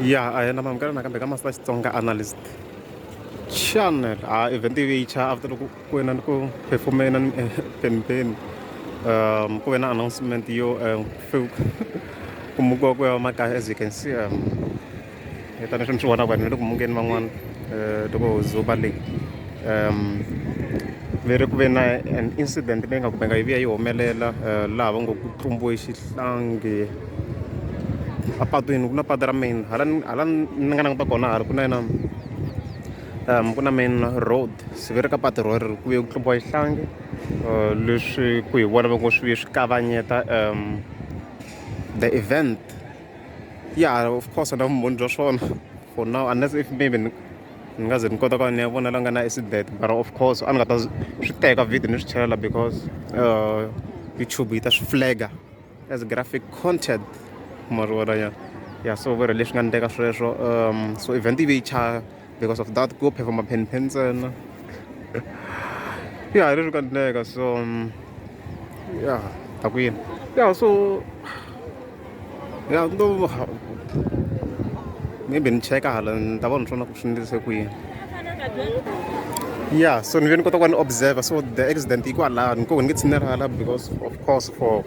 ya a hi na mamukela nakambe ka master xitsonga analyst channel ha event yi cha after loko ku wena ni ku performena ni pempeni um ku ve na announcement yo um ku mukiwa ku ya makaya as you can see um hi tanihi mi swi vonaka vanhu va le ku mungeni van'wana um loko huzuba leyi um ve ri ku ve na an incident leyi nga kumeka yi vuya yi humelela um laha va ngo ku tlumbiwe xihlangi apatwini ku na patu ra main hala hala ni nga languta kona hala ku na yena um ku na main road se ve ri ka patu ro ri ku vuye ku tlumbiwa xihlangi um leswi ku hi vona va ngo swi vuye swi kavanyeta um the event ya of course na vumbhoni bya swona for now unless if maybe ni nga ze ni kota ku va ni ya vona la nga na accident but of course a ni nga ta swi teka video ni swi chelela because uh, youtube yi ta swi flaga as graphic content mari wona ya ya so vero leswi nga ni teka sweswo um so event yi ve yi because of that ko phepha maphenphen ntsena ya hi ri ka ndleka so ya ta ku yini ya so ya ndo maybe ni cheka hala ni ta vona swona ku swi ndlise ku yini ya so ni ve ni kota ku va ni observer so the accident yi kwalani ko ni nge tshinela hala because of course for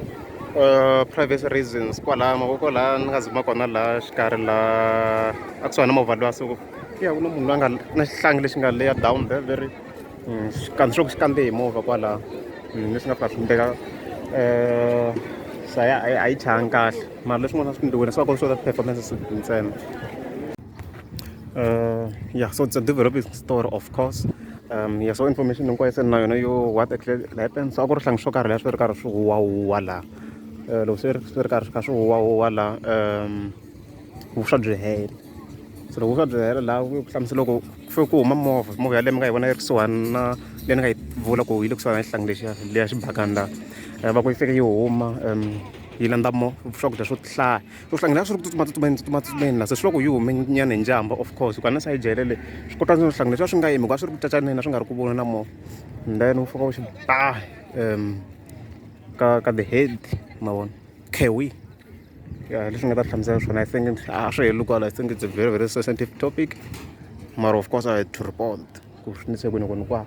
uh, privacy reasons kwalaha mavoko laha ni nga zima kona laha xikarhi laha a kusuhani na movha lowa so ya ku na munhu loyi a nga na xihlangi lexi nga leya down there very mm, xikandzi xo ku xi kande hi movha kwalaha mm, leswi nga fika swi mbeka um sa ya a yi changi kahle mara leswin'wana swi ndliwile swi va kona swo ta performance ntsena uh, yeah so it's a developing story of course um yeah so information hinkwayo se ni na yona yo what actually happened so a ku ri hlangi swo karhi leswi ri karhi swi huwahuwa laha um loko swi ri swi ri karhi swi kha swi huwahuwa laha um vuswa byi hela so loko vuswa byi hela laha ku hlamusela loko fe ku huma movha movha yaleyo mi nga yi vona yi ri kusuhani na leyi ni nga yi vula ku yi le kusuhani na xihlangi lexiya leya xibakani laha eh, va ku yi fike yi huma um yi landza mo swakudya swo hlaya u hlangela swi ri ku tsutsuma tsutsumeni tsutsuma tsutsumeni la se swi loko yi hume nyana hi njhamba of course hikuva na sayijele le swi kota no hlangela swi va swi nga yimi hikuva swi ri ku cacaneni swi nga ri ku vona na mo and then u fika u xi ba um ka ka the head ma vona kewi ya leswi nga ta hlamusela swona i think a swi heli kwala i think it's a very very sensitive topic mara of course i had to report ku swi nise kwini kwini kwaa